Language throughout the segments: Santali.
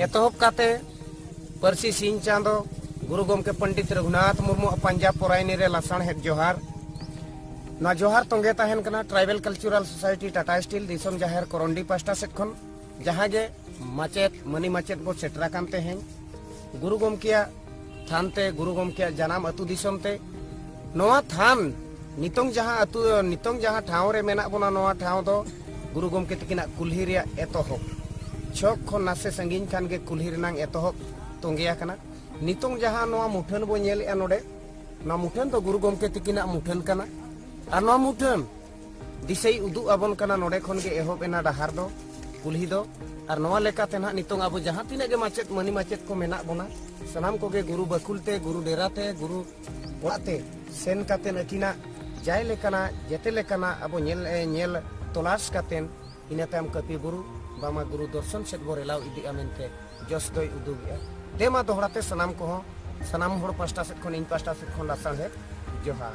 ᱮᱛᱚᱦᱚᱵ ᱠᱟᱛᱮ ᱯᱟᱹᱨᱥᱤ ᱥᱤᱧ ᱪᱟᱸᱫᱚ ᱜᱩᱨᱩ ᱜᱚᱢᱠᱮ ᱯᱚᱱᱰᱤᱛ ᱨᱚᱜᱷᱩᱱᱟᱛᱷ ᱢᱩᱨᱢᱩ ᱯᱟᱸᱡᱟ ᱯᱚᱨᱟᱭᱱᱤ ᱨᱮ ᱞᱟᱥᱟᱬᱦᱮᱫ ᱡᱚᱦᱟᱨ ᱱᱚᱣᱟ ᱡᱚᱦᱟᱨ ᱛᱚᱸᱜᱮ ᱛᱟᱦᱮᱱ ᱠᱟᱱᱟ tribal cultural society Tata Steel ᱫᱤᱥᱚᱢ ᱡᱟᱦᱮᱨ ᱠᱚᱨᱚᱱᱰᱤ ᱯᱟᱥᱴᱟ ᱥᱮᱫ ᱠᱷᱚᱱ ᱡᱟᱦᱟᱸ ᱜᱮ ᱢᱟᱪᱮᱫ ᱢᱟᱹᱱᱤ ᱢᱟᱪᱮᱫ ᱵᱚ ᱥᱮᱴᱮᱨ ᱟᱠᱟᱱ ᱛᱮᱦᱮᱧ ᱜᱩᱨᱩ ᱜᱚᱢᱠᱮᱭᱟᱜ ᱛᱷᱟᱱ ᱛᱮ ᱜᱩᱨᱩ ᱜᱚᱢᱠᱮᱭᱟᱜ ᱡᱟᱱᱟᱢ ᱟᱹᱛᱩ ᱫᱤᱥᱚᱢ ᱛᱮ ᱱᱚᱣᱟ ᱛᱷᱟᱱ ᱱᱤᱛᱚᱝ ᱡᱟᱦᱟᱸ ᱟᱹᱛᱩ ᱱᱤᱛᱚᱝ ᱡᱟᱦᱟᱸ ᱴᱷᱟᱶ ᱨᱮ ᱢᱮᱱᱟᱜ ᱵᱚᱱᱟ ᱱᱚᱣᱟ ᱴᱷᱟᱶ ᱫᱚ ᱜᱩᱨᱩ ᱜᱚᱢᱠᱮ ᱛᱟᱹᱠᱤᱱᱟᱜ ᱠᱩᱞᱦᱤ ᱨᱮᱭᱟᱜ ᱮᱛᱚᱦᱚᱵ ᱪᱷᱚᱠ ᱠᱷᱚᱱ ᱱᱟᱥᱮ ᱥᱟᱺᱜᱤᱧ ᱠᱷᱟᱱ ᱜᱮ ᱠᱩᱞᱦᱤ ᱨᱮᱱᱟᱝ ᱮᱛᱚᱦᱚᱵ ᱛᱚᱸᱜᱮ ᱟᱠᱟᱱᱟ ᱱᱤᱛᱚᱝ ᱡᱟᱦᱟᱸ ᱱᱚᱣᱟ ᱢᱩᱴᱷᱟᱹᱱ ᱵᱚ ᱧᱮᱞᱮᱜᱼᱟ ᱱᱚᱰᱮ ᱱᱚᱣᱟ ᱢᱩᱴᱷᱟᱹᱱ ᱫᱚ ᱜᱩᱨᱩ ᱜᱚᱢᱠᱮ ᱛᱟᱹᱠᱤᱱᱟᱜ ᱢᱩᱴᱷᱟᱹᱱ ᱠᱟᱱᱟ ᱟᱨ ᱱᱚᱣᱟ ᱢᱩᱴᱷᱟᱹᱱ ᱫᱤᱥᱟᱹᱭ ᱩᱫᱩᱜ ᱟᱵᱚᱱ ᱠᱟᱱᱟ ᱱᱚᱰᱮ ᱠᱷᱚᱱ ᱜᱮ ᱮᱦᱚᱵ ᱮᱱᱟ ᱰᱟᱦᱟᱨ ᱫᱚ ᱠᱩᱞᱦᱤ ᱫᱚ ᱟᱨ ᱱᱚᱣᱟ ᱞᱮᱠᱟᱛᱮ ᱱᱟᱦᱟᱜ ᱱᱤᱛᱚᱝ ᱟᱵᱚ ᱡᱟᱦᱟᱸ ᱛᱤᱱᱟᱹᱜ ᱜᱮ ᱢᱟᱪᱮᱫ ᱢᱟᱹᱱᱤ ᱢᱟᱪᱮᱫ ᱠᱚ ᱢᱮᱱᱟᱜ ᱵᱚᱱᱟ ᱥᱟᱱᱟᱢ ᱠᱚᱜᱮ ᱜᱩᱨᱩ ᱵᱟᱹᱠᱩᱞ ᱛᱮ ᱜᱩᱨᱩ ᱰᱮᱨᱟ ᱛᱮ ᱜᱩᱨᱩ ᱚᱲᱟᱜ ᱛᱮ ᱥᱮᱱ ᱠᱟᱛᱮ ᱟᱹᱠᱤᱱᱟᱜ ᱡᱟᱭ ᱞᱮᱠᱟᱱᱟᱜ ᱡᱮᱛᱮ ᱞᱮᱠᱟᱱᱟᱜ ᱟᱵᱚ ᱧᱮᱞ ᱧᱮᱞ ᱛᱚᱞᱟᱥ ᱠᱟᱛᱮ ᱤᱱᱟᱹ ᱛᱟᱭᱚᱢ ᱠᱟᱹᱯᱤ ᱵᱩᱨᱩ ᱵᱟᱢᱟ ᱜᱩᱨᱩ ᱫᱚᱨᱥᱚᱱ ᱥᱮᱫ ᱵᱚ ᱨᱮᱞᱟᱣ ᱤᱫᱤᱜᱼᱟ ᱢᱮᱱᱛᱮ ᱡᱚᱥ ᱫᱚᱭ ᱩᱫᱩᱜᱮᱜᱼᱟ ᱫᱮᱢᱟ ᱫᱚᱦᱲᱟ ᱛᱮ ᱥᱟᱱᱟᱢ ᱠᱚᱦᱚᱸ ᱥᱟᱱᱟᱢ ᱦᱚᱲ ᱯᱟᱥᱴᱟ ᱥᱮᱫ ᱠᱷᱚᱱ ᱤᱧ ᱯᱟᱥᱴᱟ ᱥᱮᱫ ᱠᱷᱚᱱ ᱞᱟᱥᱟᱬᱦᱮᱫ ᱡᱚᱦᱟᱨ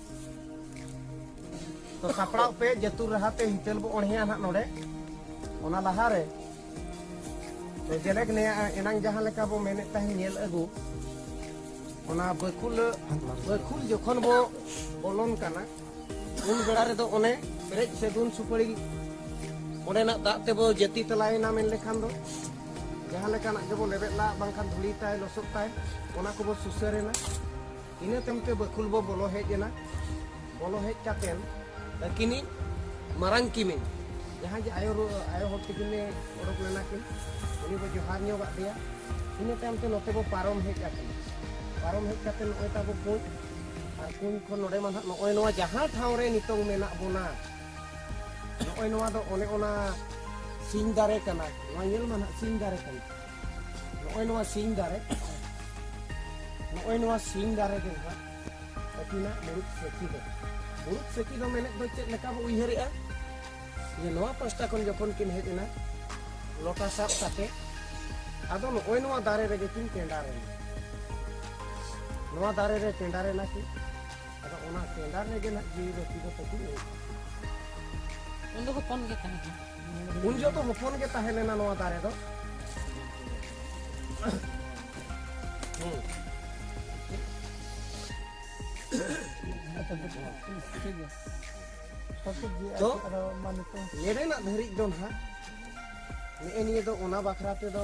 ᱛᱚ ᱥᱟᱯᱲᱟᱣ ᱯᱮ ᱡᱟᱹᱛᱩᱨ ᱨᱟᱦᱟᱛᱮ ᱦᱤᱛᱟᱹᱞ ᱵᱚ ᱚᱬᱦᱮᱭᱟ ᱱᱟᱜ ᱱᱚᱰᱮ ᱚᱱᱟ ᱞᱟᱦᱟᱨᱮ ᱛᱚ ᱡᱮᱞᱮᱠ ᱱᱮᱭᱟ ᱮᱱᱟᱝ ᱡᱟᱦᱟᱸ ᱞᱮᱠᱟ ᱵᱚ ᱢᱮᱱᱮᱫ ᱛᱟᱦᱮᱸ ᱧᱮᱞ ᱟᱹᱜᱩ ᱚᱱᱟ ᱵᱟᱹᱠᱷᱩᱞ ᱵᱟᱹᱠᱷᱩᱞ ᱡᱚᱠᱷᱚᱱ ᱵᱚ ᱵᱚᱞᱚᱱ ᱠᱟᱱᱟ ᱩᱱ ᱵᱮᱲᱟ ᱨᱮᱫᱚ ᱚᱱᱮ ᱯᱮᱨᱮᱡ ᱥᱮᱫᱩᱱ ᱥᱩᱯᱟᱹᱲᱤ ᱚᱸᱰᱮᱱᱟᱜ ᱫᱟᱜ ᱛᱮᱵᱚ ᱡᱟᱹᱛᱤ ᱛᱮᱞᱟᱭᱮᱱᱟ ᱢᱮᱱ ᱞᱮᱠᱷᱟᱱ ᱫᱚ ᱡᱟᱦᱟᱸ ᱞᱮᱠᱟᱱᱟᱜ ᱜᱮᱵᱚ ᱞᱮᱵᱮᱫ ᱞᱟᱜ ᱵᱟᱝᱠᱷᱟᱱ ᱫᱷᱩᱲᱤ ᱛᱟᱭ ᱞᱚᱥᱚᱫ ᱛᱟᱭ ᱚᱱᱟ ᱠᱚᱵᱚ ᱥᱩᱥᱟᱹᱨᱮᱱᱟ ᱤᱱᱟᱹ ᱛᱟᱭᱚᱢ ᱛᱮ ᱵᱟᱹᱠᱷᱩᱞ ᱵᱚ ᱵᱚᱞᱚ ᱦᱮᱡ ᱮᱱᱟ ᱵᱚᱞᱚ ᱦᱮᱡ ᱠᱟᱛᱮᱱ ᱟᱹᱠᱤᱱᱤᱡ ᱢᱟᱨᱟᱝ ᱠᱤᱢᱤᱱ ᱡᱟᱦᱟᱸ ᱡᱮ ᱟᱭᱳ ᱟᱭᱳ ᱦᱚᱲ ᱛᱤᱠᱤᱱᱮ ᱚᱰᱚᱠ ᱞᱮᱱᱟ ᱠᱤᱱ ᱩᱱᱤ ᱵᱚ ᱡᱚᱦᱟᱨ ᱧᱚᱜ ᱟᱫ ᱫᱮᱭᱟ ᱤᱱᱟᱹ ᱛᱟᱭᱚᱢ ᱛᱮ ᱱᱚᱛᱮ ᱵᱚ ᱯᱟᱨᱚᱢ ᱦᱮᱡ ᱟᱠᱟᱱᱟ ᱯᱟᱨᱚᱢ ᱦᱮᱡ ᱠᱟᱛᱮ ᱱᱚᱜᱼᱚᱭ ᱛᱟᱵᱚ ᱠᱩᱸᱡ ᱟᱨ ᱠᱩᱸᱡ ᱠᱷᱚᱱ ᱱᱚᱰᱮ ᱢᱟ ᱱᱟᱦᱟᱜ ᱱᱚᱜᱼᱚᱭ ᱱᱚᱣᱟ ᱡᱟᱦᱟᱸ ᱴᱷᱟᱶ ᱨᱮ ᱱᱤᱛᱚᱝ ᱢᱮᱱᱟᱜ ᱵᱚᱱᱟ ᱱᱚᱜᱼᱚᱭ ᱱᱚᱣᱟ ᱫᱚ ᱚᱱᱮ ᱚᱱᱟ ᱥᱤᱧ ᱫᱟᱨᱮ ᱠᱟᱱᱟ ᱱᱚᱣᱟ ᱧᱮᱞ ᱢᱟ ᱱᱟᱦᱟᱜ ᱥᱤᱧ ᱫᱟᱨᱮ ᱠᱟᱱᱟ ᱱᱚᱜᱼᱚᱭ ᱱᱚᱣᱟ ᱥᱤᱧ ᱫᱟᱨᱮ ᱱᱚᱜᱼᱚᱭ ᱱᱚᱣᱟ ᱥᱤᱧ ᱫᱟᱨᱮ ᱜᱮ ᱱᱟᱦᱟᱜ ᱟᱹᱠᱤᱱᱟᱜ ᱢᱩᱲᱩᱫ ᱥᱮᱠᱤ ᱫᱚ ᱢᱩᱲᱩᱫ ᱥᱮᱠᱤ ᱫᱚ ᱢᱮᱱᱮᱫ ᱫᱚ ᱪᱮᱫ ᱞᱮᱠᱟ ᱵᱚ ᱩᱭᱦᱟᱹᱨᱮᱜᱼᱟ ᱡᱮ ᱱᱚᱣᱟ ᱯᱟᱥᱴᱟ ᱠᱷᱚᱱ ᱡᱚᱠᱷᱚᱱ ᱠᱤᱱ ᱦᱮᱡ ᱮᱱᱟ ᱞᱚᱴᱟ ᱥᱟᱵ ᱠᱟᱛᱮ ᱟᱫᱚ ᱱᱚᱜᱼᱚᱭ ᱱᱚᱣᱟ ᱫᱟᱨᱮ ᱨᱮᱜᱮ ᱠᱤᱱ ᱴᱮᱸᱰᱟᱨ ᱮᱱᱟ ᱱᱚᱣᱟ ᱫᱟᱨᱮ ᱨᱮ ᱴᱮᱸᱰᱟᱨ ᱮᱱᱟ ᱠᱤᱱ ᱟᱫᱚ ᱚᱱᱟ ᱴᱮᱸᱰᱟᱨ ᱨᱮᱜᱮ ᱱᱟᱦᱟᱜ ᱡᱤᱣᱤ ᱵᱟᱹᱛᱤ ᱫᱚ ᱛᱟᱹᱠᱤᱱ ᱩᱱ ᱫᱚ ᱦᱚᱯᱚᱱ ᱜᱮ ᱛᱟᱦᱮᱸ ᱠᱟᱱᱟ ᱩᱱ ᱡᱚᱛᱚ ᱦᱚᱯᱚᱱ ᱜᱮ ᱛᱟᱦᱮᱸ ᱞᱮᱱᱟ ᱱᱚᱣᱟ ᱫᱟᱨᱮ ᱫᱚ ᱛᱚ ᱱᱮᱰᱮᱱᱟᱜ ᱫᱷᱟᱹᱨᱤᱡ ᱫᱚ ᱱᱟᱦᱟᱜ ᱱᱮᱜᱼᱮ ᱱᱤᱭᱟᱹ ᱫᱚ ᱚᱱᱟ ᱵᱟᱠᱷᱨᱟ ᱛᱮᱫᱚ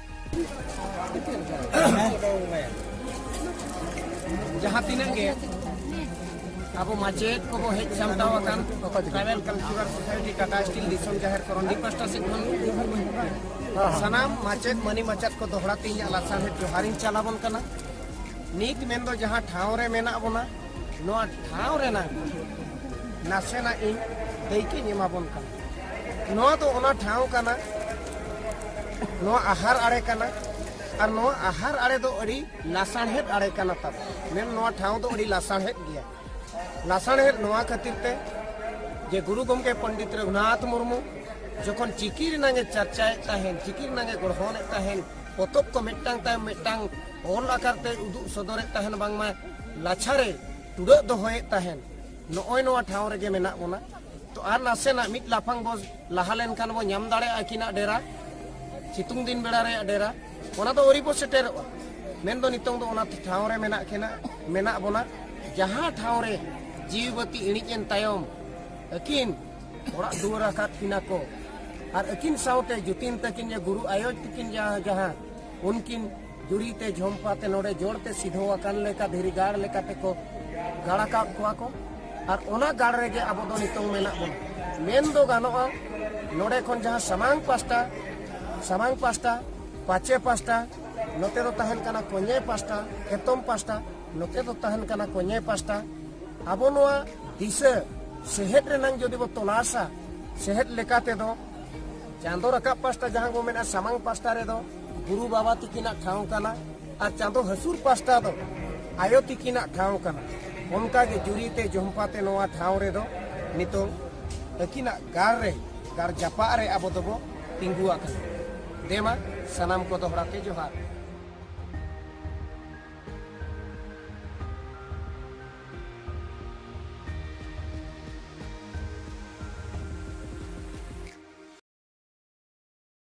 ᱡᱟᱦᱟᱸ ᱛᱤᱱᱟᱹᱜ ᱜᱮ ᱟᱵᱚ ᱢᱟᱪᱮᱫ ᱠᱚᱵᱚ ᱦᱮᱡ ᱥᱟᱢᱴᱟᱣ ᱟᱠᱟᱱ tribal cultural society Tata Steel ᱫᱤᱥᱚᱢ ᱡᱟᱦᱮᱨ ᱠᱚᱨᱚᱱᱰᱤ ᱯᱟᱥᱴᱟ ᱥᱮᱫ ᱠᱷᱚᱱ ᱥᱟᱱᱟᱢ ᱢᱟᱪᱮᱫ ᱢᱟᱹᱱᱤ ᱢᱟᱪᱮᱫ ᱠᱚ ᱫᱚᱦᱲᱟ ᱛᱮ ᱤᱧᱟᱹᱜ ᱞᱟᱥᱟᱲᱦᱮᱫ ᱡᱚᱦᱟᱨᱤᱧ ᱪᱟᱞᱟᱵᱚᱱ ᱠᱟᱱᱟ ᱱᱤᱛ ᱢᱮᱱᱫᱚ ᱡᱟᱦᱟᱸ ᱴᱷᱟᱶ ᱨᱮ ᱢᱮᱱᱟᱜ ᱵᱚᱱᱟ ᱱᱚᱣᱟ ᱴᱷᱟᱶ ᱨᱮᱱᱟᱜ ᱱᱟᱥᱮᱱᱟᱜ ᱤᱧ ᱫᱟᱹᱭᱠᱟᱹᱧ ᱮᱢᱟᱵᱚᱱ ᱠᱟᱱᱟ ᱱᱚᱣᱟ ᱫᱚ ᱚᱱᱟ ᱴᱷᱟᱶ ᱠᱟᱱᱟ ᱱᱚᱣᱟ ᱟᱦᱟᱨ ᱟᱲᱮ ᱠᱟᱱᱟ ᱟᱨ ᱱᱚᱣᱟ ᱟᱦᱟᱨ ᱟᱲᱮ ᱫᱚ ᱟᱹᱰᱤ ᱞᱟᱥᱟᱬᱦᱮᱫ ᱟᱲᱮ ᱠᱟᱱᱟ ᱛᱟᱵᱚ ᱢᱮᱱ ᱱᱚᱣᱟ ᱴᱷᱟᱶ ᱫᱚ ᱟᱹᱰᱤ ᱞᱟᱥᱟᱬᱦᱮᱫ ᱜᱮᱭᱟ ᱞᱟᱥᱟᱬᱦᱮᱫ ᱱᱚᱣᱟ ᱠᱷᱟᱹᱛᱤᱨ ᱛᱮ ᱡᱮ ᱜᱩᱨᱩ ᱜᱚᱢᱠᱮ ᱯᱚᱱᱰᱤᱛ ᱨᱚᱜᱷᱩᱱᱟᱛᱷ ᱢᱩᱨᱢᱩ ᱡᱚᱠᱷᱚᱱ ᱪᱤᱠᱤ ᱨᱮᱱᱟᱝ ᱮ ᱪᱟᱨᱪᱟᱭᱮᱫ ᱛᱟᱦᱮᱱ ᱪᱤᱠᱤ ᱨᱮᱱᱟᱝ ᱮ ᱜᱚᱲᱦᱚᱱᱮᱫ ᱛᱟᱦᱮᱱ ᱯᱚᱛᱚᱵ ᱠᱚ ᱢᱤᱫᱴᱟᱝ ᱛᱟᱭᱚᱢ ᱢᱤᱫᱴᱟᱝ ᱚᱞ ᱟᱠᱟᱨ ᱛᱮ ᱩᱫᱩᱜ ᱥᱚᱫᱚᱨᱮᱫ ᱛᱟᱦᱮᱱ ᱵᱟᱝᱢᱟ ᱞᱟᱪᱷᱟᱨᱮ ᱴᱩᱰᱟᱹᱜ ᱫᱚᱦᱚᱭᱮᱫ ᱛᱟᱦᱮᱱ ᱱᱚᱜᱼᱚᱭ ᱱᱚᱣᱟ ᱴᱷᱟᱶ ᱨᱮᱜᱮ ᱢᱮᱱᱟᱜ ᱵᱚᱱᱟ ᱛᱚ ᱟᱨ ᱱᱟᱥᱮᱱᱟᱜ ᱢᱤᱫ ᱞᱟᱯᱷᱟᱝ ᱵᱚ ᱞᱟᱦᱟ ᱞᱮᱱᱠᱷᱟᱱ ᱵᱚ ᱧᱟᱢ ᱫᱟᱲᱮᱭᱟᱜᱼᱟ ᱟᱹᱠᱤᱱᱟᱜ ᱰᱮᱨᱟ ᱥᱤᱛᱩᱝ ᱫᱤᱱ ᱵᱮᱲᱟ ᱨᱮᱭᱟᱜ ᱰᱮᱨᱟ ᱚᱱᱟ ᱫᱚ ᱟᱹᱣᱨᱤ ᱵᱚ ᱥᱮᱴᱮᱨᱚᱜᱼᱟ ᱢᱮᱱ ᱫᱚ ᱱᱤᱛᱚᱝ ᱫᱚ ᱚᱱᱟ ᱴᱷᱟᱶ ᱨᱮ ᱢᱮᱱᱟᱜ ᱠᱤᱱᱟ ᱢᱮᱱᱟᱜ ᱵᱚᱱᱟ ᱡᱟᱦᱟᱸ ᱴᱷᱟᱶ ᱨᱮ ᱡᱤᱣᱤ ᱵᱟᱹᱛᱤ ᱤᱬᱤᱡ ᱮᱱ ᱛᱟᱭᱚᱢ ᱟᱹᱠᱤᱱ ᱚᱲᱟᱜ ᱫᱩᱣᱟᱹᱨ ᱟᱠᱟᱫ ᱠᱤᱱᱟ ᱠᱚ ᱟᱨ ᱟᱹᱠᱤᱱ ᱥᱟᱶᱛᱮ ᱡᱩᱛᱤᱱ ᱛᱟᱹᱠᱤᱱ ᱡᱮ ᱜᱩᱨᱩ ᱟᱭᱳ ᱛᱟᱹᱠᱤᱱ ᱡᱟᱦᱟᱸ ᱡᱟᱦᱟᱸ ᱩᱱᱠᱤᱱ ᱡᱩᱨᱤ ᱛᱮ ᱡᱷᱚᱢᱯᱟ ᱛᱮ ᱱᱚᱰᱮ ᱡᱚᱲ ᱛᱮ ᱥᱤᱫᱷᱚ ᱟᱠᱟᱱ ᱞᱮᱠᱟ ᱫᱷᱤᱨᱤ ᱜᱟᱲ ᱞᱮᱠᱟ ᱛᱮ ᱠᱚ ᱜᱟᱲ ᱟᱠᱟᱫ ᱠᱚᱣᱟ ᱠᱚ ᱟᱨ ᱚᱱᱟ ᱜᱟᱲ ᱨᱮᱜᱮ ᱟᱵᱚ ᱫᱚ ᱱᱤᱛᱚᱝ ᱢᱮᱱᱟᱜ ᱵᱚᱱᱟ ᱢᱮᱱ ᱫᱚ ᱜᱟᱱᱚᱜᱼᱟ ᱱᱚᱰᱮ ᱠᱷᱚᱱ ᱡᱟᱦᱟᱸ ᱥᱟᱢᱟᱝ ᱯᱟᱥᱴᱟ ᱥᱟᱢᱟᱝ ᱯᱟᱥᱴᱟ ᱯᱟᱪᱮ ᱯᱟᱥᱴᱟ ᱱᱚᱛᱮ ᱫᱚ ᱛᱟᱦᱮᱱ ᱠᱟᱱᱟ ᱠᱚᱧᱮ ᱯᱟᱥᱴᱟ ᱮᱛᱚᱢ ᱯᱟᱥᱴᱟ ᱱᱚᱛᱮ ᱫᱚ ᱛᱟᱦᱮᱱ ᱠᱟᱱᱟ ᱠᱚᱧᱮ ᱯᱟᱥᱴᱟ ᱟᱵᱚ ᱱᱚᱣᱟ ᱫᱤᱥᱟᱹ ᱥᱮᱦᱮᱫ ᱨᱮᱱᱟᱝ ᱡᱩᱫᱤ ᱵᱚ ᱛᱚᱞᱟᱥᱟ ᱥᱮᱦᱮᱫ ᱞᱮᱠᱟ ᱛᱮᱫᱚ ᱪᱟᱸᱫᱚ ᱨᱟᱠᱟᱵ ᱯᱟᱥᱴᱟ ᱡᱟᱦᱟᱸ ᱵᱚ ᱢᱮᱱᱟ ᱥᱟᱢᱟᱝ ᱯᱟᱥᱴᱟ ᱨᱮᱫᱚ ᱜᱩᱨᱩ ᱵᱟᱵᱟ ᱛᱤᱠᱤᱱᱟᱜ ᱴᱷᱟᱶ ᱠᱟᱱᱟ ᱟᱨ ᱪᱟᱸᱫᱚ ᱦᱟᱹᱥᱩᱨ ᱯᱟᱥᱴᱟ ᱫᱚ ᱟᱭᱳ ᱛᱤᱠᱤᱱᱟᱜ ᱴᱷᱟᱶ ᱠᱟᱱᱟ ᱚᱱᱠᱟᱜᱮ ᱡᱩᱨᱤᱛᱮ ᱡᱚᱢᱯᱟᱛᱮ ᱱᱚᱣᱟ ᱴᱷᱟᱶ ᱨᱮᱫᱚ ᱱᱤᱛᱚᱝ ᱟᱹᱠᱤᱱᱟᱜ ᱜᱟᱲ ᱨᱮ ᱜᱟᱲ ᱡᱟᱯᱟᱜ ᱨᱮ ᱟᱵᱚ ᱫᱚᱵᱚ ᱛᱤᱸᱜᱩ ᱟᱠᱟᱱᱟ ᱫᱮᱢᱟ ᱥᱟᱱᱟᱢ ᱠᱚ ᱫᱚᱦᱲᱟ ᱛᱮ ᱡᱚᱦᱟᱨ